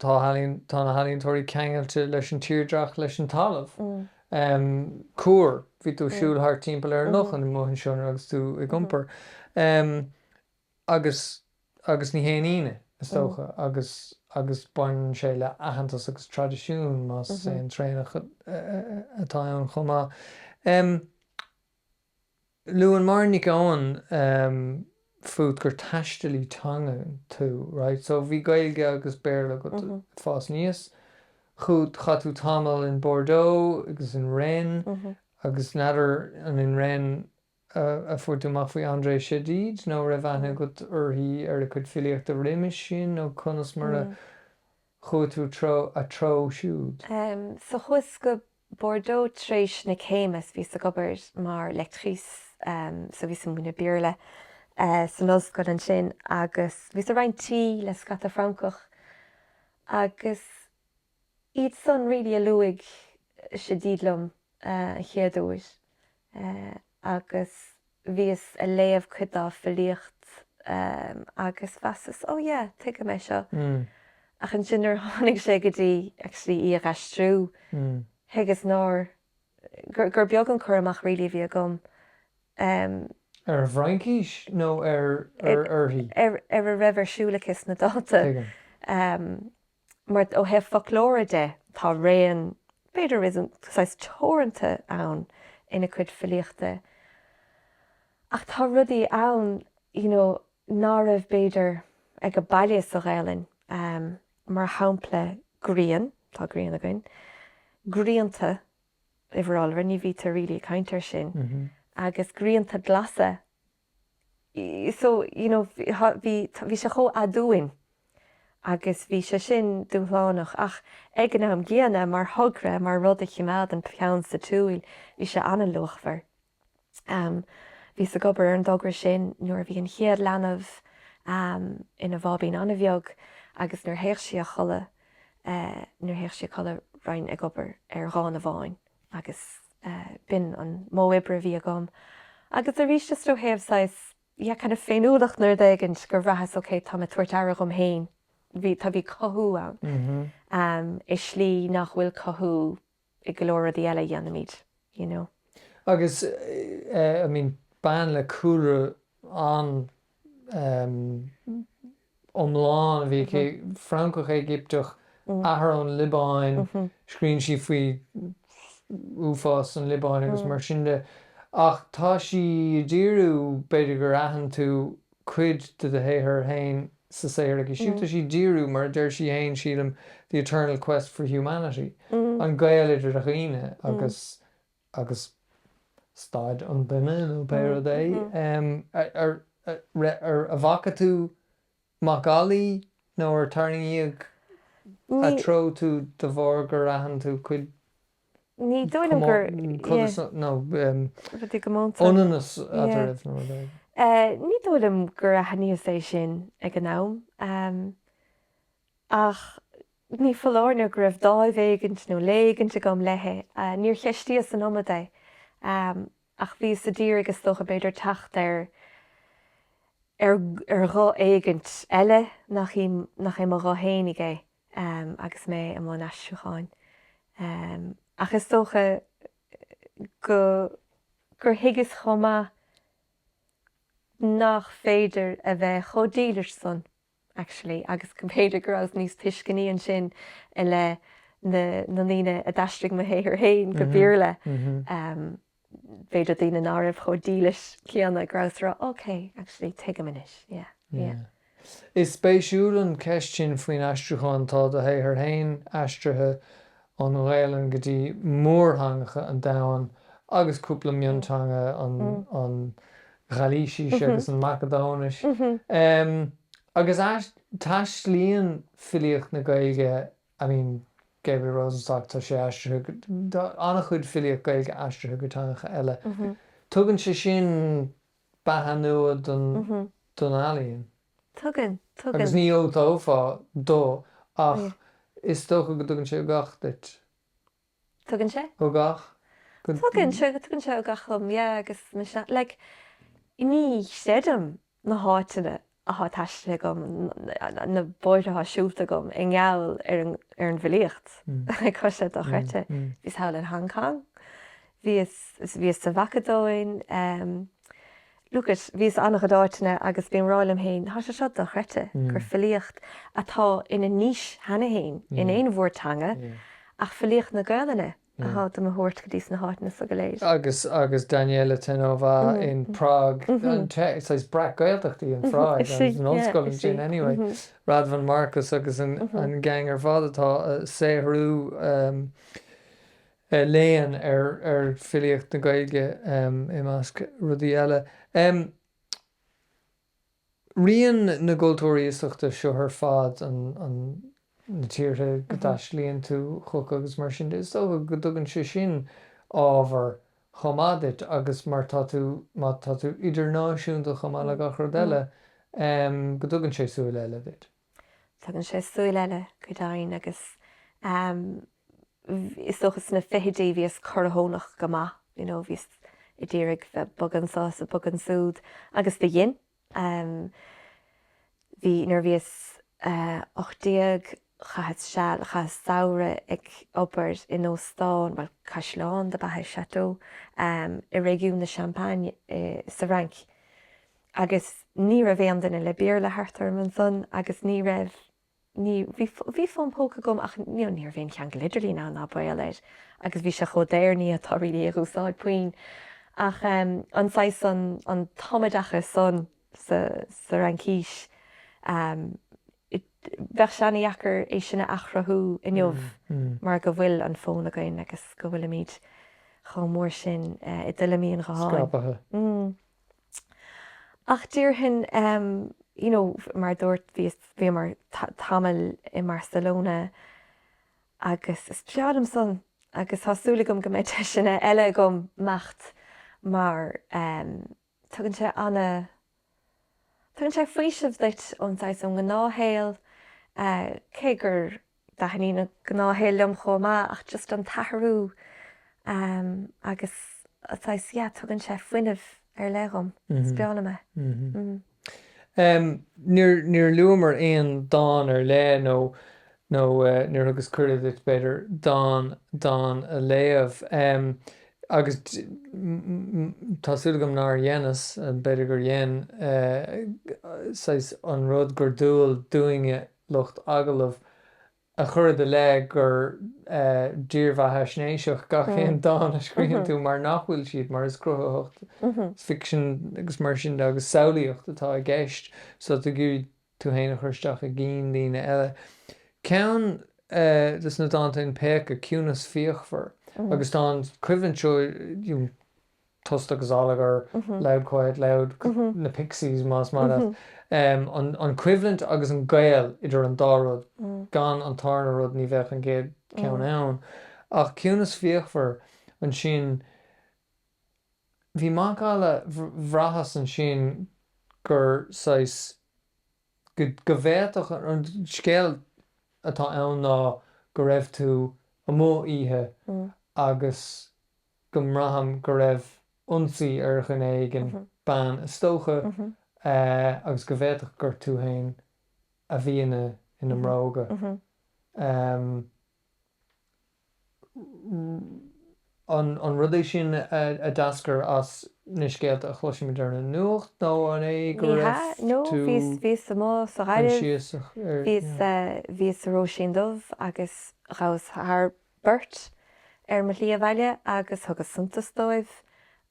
tá ealaín tá na healaíontóirí ceangailte leis an tírdhreach, leis an talamh. Em cúr, bhí tú ag siúl thart timpeall ar an loch amuigh ansin agus tú ag iompar. Em. agus agus ní haon ionadh, is dócha, agus agus baineann sé le aitheantas agus traidisiún, más é an traonach atá ann chomh maith. Luann Máirín Nic Eoin fút gur taistealaí teanga tú, raight, so bhí Gaeilge agus Béarla agat ag fás aníos chugat. Chaith tú tamall in Bordeaux agus in Rennes agus n'fheadar an in Rennes, a fuair tú amach faoi Andrée Chedid nó an raibh aithne agat uirthi ar a cuid filíochta roimis sin nó conas mar a chuaigh tú ina treo siúd? So chuas go Bordeaux t'réis na céime is bhíos ag obair mar lectrice so bhíos ag múineadh Béarla san ollscoil ansin agus bhíos ag roinnt tí le scata Francach agus Iad san really a luaigh Chedid liom an chéad uair agus bhíos ag léamh cuid dá filíocht agus mheasas oh yeah tuigim é seo ach ansin nuair a tháinig sé go dtí actually í a aistriú thuigeas nár, gur, gur beag an cur amach really a bhí agam ar. Ar an bhFraincís nó ar, ar, uirthi? ar, ar a raibh ar siúl aici sna dánta. Tuigim. Mar, ó thaobh foclóra de, tá raon, b'fhéidir réasúnta saghas teoranta ann ina cuid filíochta ach tá rudaí ann you know ná raibh b'fhéidir ag baile sa Ghaelainn, mar shampla grian, tá grian againn, grianta, uimhir iolra, ní bhítear really ag caint ar sin, agus grianta glasa. so you know bhí, bhí sé chomh aduain agus bhí sé sin dúshlánach ach ag an am gcéanna mar thogra, mar rud a chimeád an peann sa tsiúl, bhí sé an-luachmhar. Ehm bhíos ag obair ar an dtogra sin nuair a bhí an chéad leanbh ehm ina bháibín an-bheag agus nuair théadh sí a chodladh eh nuair théadh sí a chodladh bheinn ag obair ar dhán amháin agus b'in an modh oibre a bhí agam agus arís just ó thaobh saghas yeah kind of féiniúlacht nó rud éigint gur bhraitheas ok tá mé ag tabhairt aire dhom féin bhí tá bhí cothú ann ehm i slí nach bhfuil cothú i go leor rudaí eile a dhéanaimid you know. Agus eh I mean bean le cúlra an iomlán. Bhí Francach, Éigipteach, athair ón Liobáin. Scríonn sí faoi uafás an Liobáin agus mar sin de. Ach tá sí ag díriú, b'fhéidir gur aithin tú cuid de do shaothar féin sa saothar aici siúd, tá sí ag díriú, mar a deir sí féin, sílim, the eternal quest for humanity, an gaol idir dhaoine agus agus staid an duine nó pé rud é. An bhfaca tú macallaí nó ar tarraingíodh ina treo tú de bharr gur aithin tú cuid ionannas eadraibh nó rud éigin? Ní dóigh liom gur aithníos é sin ag an am. Ach ní foláir nó go raibh dáimh éigint nó lé éigint agam léi. Níor cheistíos an iomad é. Ach bhíos a d'iarraidh is dócha, b'fhéidir teacht ar ar ghuth éigint eile nach í, nach é mo ghuth fhéinig é agus mé i mbun aistriúcháin. Ach is dócha go, gur thuigeas chomh maith nach féidir a bheith chomh dílis san. actually, agus go mb'fhéidir go rabhas níos tuisceanaí ansin i leith na na ndaoine a d'aistrigh mo shaothar féin go Béarla. B'fhéidir daoine ná raibh chomh dílis céanna, go rabhas a rá, OK, actually, tuigim anois, yeah, yeah. Is spéisiúil an cheist sin faoin aistriúchán. Tá do shaothar féin aistrithe ón nGaelainn go dtí mórtheangacha an domhain agus cúpla mionteanga an Ghailísis agus an Mhacadóinis. Agus taistlíonn filíocht na Gaeilge, I mean, Gabriel Rosenstock, tá sé aistrithe go, tá an-chuid filíocht Gaeilge aistrithe go teangacha eile. Tugann sé sin beatha nua don ealaíon. Tugann, tugann. Agus ní dhiúltófá dó ach is dócha go dtugann sé ugach duit. Tugann sé. Ugach. Tugann sé, tugann sé ugach dom, yeah, agus, like, ní chreidim na háiteanna atá taistealta agam, na bóithre atá siúlta agam i ngeall ar an, ar an bhfilíocht, cos tá sé dochreidte. Bhíos thall in Hong Kong, bhíos, bhíos sa Mhacadóin, Look it, bhíos an-chuid áiteanna agus bím á rá liom féin, tá sé seo dochreidte, gur filíocht atá ina niche cheana féin in aon mhórtheanga ach filíocht na Gaolainne atá do mo thabhairt go dtí sna háiteanna so go léir. Agus agus Daniela Theinová in Prág, saghas breac-Ghaeltacht í an Phráig, is an ollscoil ansin anyway, Radvan Markus agus an gang ar fad atá ag saothrú. ar léann, ar filíocht na Gaeilge i measc rudaí eile. Rian na gcultúirí iasachta seo ar fad, an, na tíortha go dtaistealaíonn tú chucu agus mar sin de, is dócha go dtugann sé sin ábhar chomh maith duit agus mar tá tú, má tá tú idirnáisiúnta chomh maith le gach rud eile, go dtugann sé súil eile duit. Tugann sé súil eile go deimhin agus is dócha sna fichidí bhíos corrthónach go maith, you know, bhíos ag d'iarraidh bheith ag bogadh anso is ag bogadh ansúd agus do dhein. Bhí, nuair a bhíos 18 chaitheas seal, chaitheas samhradh ag obair in óstán, bhuel caisleán dob ea é, chateau, i réigiún na Champagne sa Fhrainc. Agus ní raibh aon duine le Béarla thart orm ansan agus ní raibh, ní, bhí, bhí fón póca agam ach you know ní raibh aon cheangal idirlín ann ná baol air agus bhí sé chomh daor, ní fhéadfá really é a úsáid puinn ach ehm an saghas, an, an tumoideachas san sa, sa Fhraincís ehm bheadh sé an-deacair é sin a athchruthú inniu mar go bhfuil an fón againn agus go bhfuilimid chomh mór sin i dtuilleamaí an ghutháin. Ach déarfainn, you know, mar a dúirt, bhíos, bhíomar tamall i mBarcelona agus is breá liom san agus tá súil agam go mbeidh deiseanna eile agam imeacht mar tugann sé ana, tugann sé faoiseamh duit ón saghas, ón ngnáthshaol cé gur, dtaitníonn an gnáthshaol liom chomh maith ach just an t-athrú ehm agus saghas yeah tugann sé fuinneamh ar leith dhom is breá liom é. Mh-mh. Ehm níor níor luamar aon dán ar leith nó nó eh níor thugas cuireadh duit b'fhéidir dán dán a léamh ehm agus mh tá súil agam nár dheineas, b'fhéidir gur dhein eh saghas an rud gur dual dúinne lucht agallaimh a chur i do leith gur dírbheathaisnéiseach gach aon dán a scríobhann tú mar nach bhfuil siad, mar is cruthaitheacht, is ficsean agus mar sin de agus samhlaíocht atá i gceist so tá agat tú féin a chur isteach i gcinn daoine eile. Ceann des na dánta in Péacadh, Ciúnas Fíochmhar, agus tá an choimhlint seo. tost agus allagar loud, quiet, loud na Pixies más maith leat. An choimhlint agus an gaol idir an dá rud, gan an tarna rud ní bheadh an chéad cheann ann. Ach ciúnas fíochmhar ansin bhí macalla, bhraitheas ansin gur saghas, go bhféadfadh, an scéal atá ann ná go raibh tú amuigh oíche agus, go mbraithim go raibh ionsaí ar dhuine éigin, bean is dócha, agus go bhféadfadh gur tú féin a bhí ina, ina mbróga. An rud é sin a d'eascair as na scéalta a chloisimid ar an nuacht nó an é go raibh tú bhíos sa Róisín Dubh agus ghabhas thar. beirt, ar mo shlí abhaile agus thugas suntas dóibh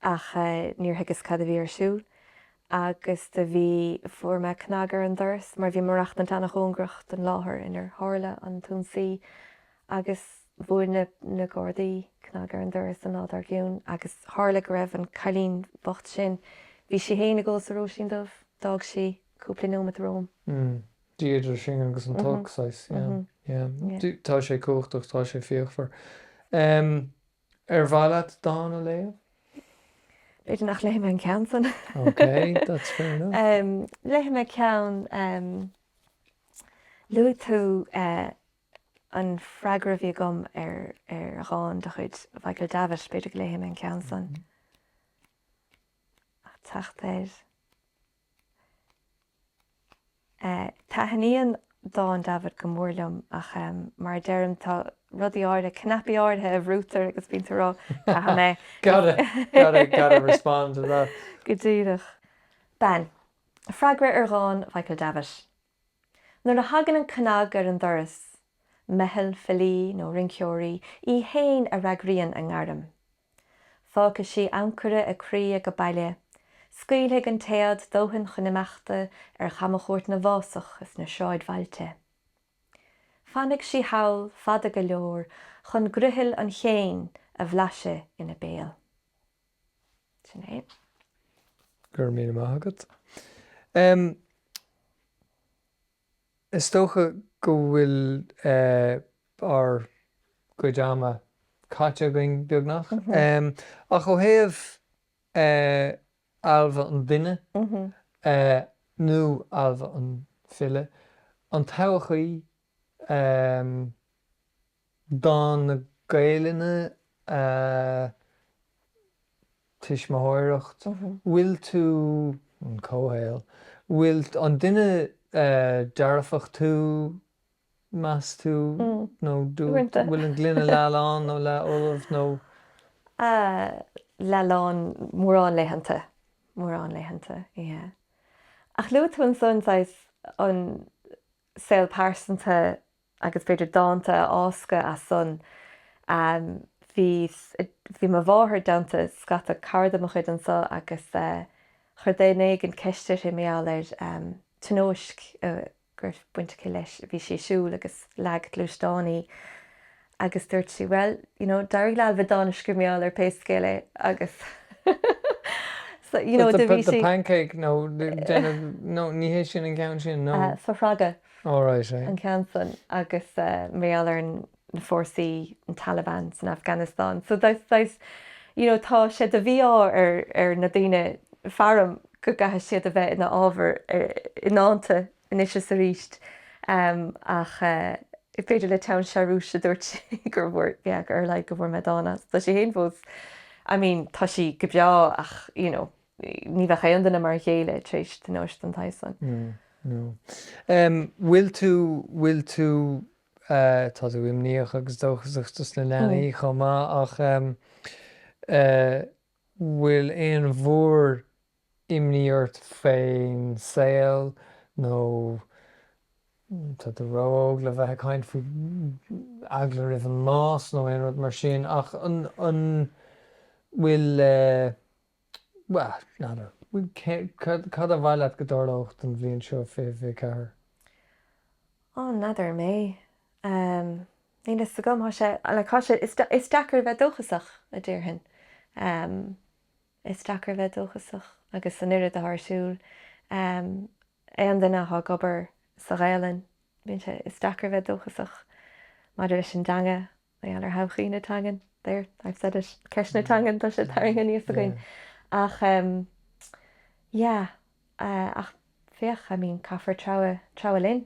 ach níor thuigeas cad a bhí ar siúl agus do bhí, fuair mé cnag ar an doras mar bhí mé ag maireachtaint an-chóngarach don láthair inar tharla an t-ionsaí agus bhuail na na Gardaí cnag ar an doras an lá dár gcionn agus tharla go raibh an cailín bocht sin, bhí sí féin ag ól sa Róisín Dubh, d'fhág sí cúpla neomat romham. Dia idir sinn agus an t-olc saghas, yeah, yeah. Tá sé cumhachtach, tá sé fíochmhar. Ar mhaith leat dán a léamh? B'fhéidir nach léifidh mé an ceann san. OK, that's fair enough. Léifidh mé ceann, luaigh tú an freagra a bhí agam ar dhán de chuid Mhichael Davitt, b'fhéidir go léifidh mé an ceann san. Ag teacht air. Taithníonn dán Davitt go mór liom ach mar a deirim tá rudaí áirithe, cnaipí áirithe a bhrúitear agus bíonn tú ag rá caithfidh mé. Gotta, gotta, gotta respond to that. Go díreach. Bean, freagra ar dhán Mhichael Davitt. Nuair a thagann an cnag ar an doras, meitheal filí nó rinceoirí í féin a fhreagraíonn a ngairm. Fágfaidh sí ancaire a croí ag baile, scaoilfidh an téad dóthain chun imeachta ar chamchuairt na bhfásach is na sráidbhailte. Fanfaidh sí thall fada go leor chun griothal an chéin a bhlaiseadh ina béal. Sin é. Go raibh míle maith agat. Is dócha go bhfuil ár gcuid ama caite againn beagnach ach ó thaobh Ailbhe an duine nó Ailbhe an file, an todhchaí? um todhchaí na Gaelainne ah tuismitheoireacht bhfuil tú an comhshaol, bhfuil tú an duine dearfach tú, meas tú nó duine. Uaireanta. bhfuil an gloine leath lán nó leath fholamh nó. ah leath lán formhór laethanta, formhór laethanta, yeah. Ach luaigh tú ansan saghas an saol pearsanta agus b'féidir dánta a fháscadh as san. Bhí, bhí mo mháthair i dteannta scata cairde mo chuid anso agus chuir duine éigin ceist uirthi mar gheall ar tionóisc go raibh baint aici leis. Bhí sí ag siúl agus leag gluaisteán í. Agus dúirt sí, bhuel, you know, d'éirigh le Ailbhe dán a scríobh mar gheall air pé scéal é agus so, you know, do bhí sí. pancake nó déanamh nó ní hé sin an ceann sin nó. Fothragadh. All right, aye. An ceann san agus mar gheall ar an na fórsaí an Taliban san Afghanistan. So that's that's, you know, tá sé de mhí-ádh ar ar na daoine faram go gcaithfidh siad a bheith ina ábhar i ndánta anois is arís. Ach b'fhéidir le teann searúis a dúirt sí gur bhfuair, yeah, ar a laghad go bhfuair mé dán as. Tá sí féin fós, I mean, tá sí go breá ach, you know, ní bheadh aon duine mar a chéile tar éis tionóisc den tsaghas san. No, no. Bhfuil tú, bhfuil tú, tá tú imníoch agus dóchasach dos na leanaí chomh maith ach bhfuil aon mhór imní ort faoin saol nó tá tú ró-óg le bheith ag caint faoi, eagla roimh an mbás nó aon rud mar sin ach an bhfuil, bhuel, n'fheadar, cad ba mhaith leat go dtarlódh don bhliain seo, 2024? Ó, n'fheadar mé, níl a fhios agam, tá sé, like, tá sé, is deacair a bheith dóchasach, a déarfainn. Is deacair a bheith dóchasach agus an oiread rud atá ar siúl. Aon duine atá ag obair sa Ghaelainn, bíonn sé, is deacair a bheith dóchasach maidir leis an dteanga mar gheall ar thodhchaí na teangan. There, I've said it. Ceist na teangan, tá sé tarraingthe aníos againn. Ach, yeah. Ah, ach féach, I mean, caithfear treabhadh, treabhadh linn.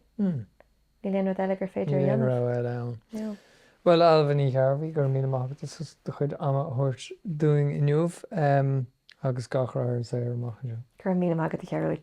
Níl aon rud eile gur féidir a dhéanamh. Níl aon rogha eile ann. No. Bhuel, Ailbhe Ní Ghearbhuigh, go raibh míle maith agat as do chuid ama a thabhairt dúinn inniu agus gach rath ar an saothar amach anseo. Go raibh míle maith agat, a Ghearóid.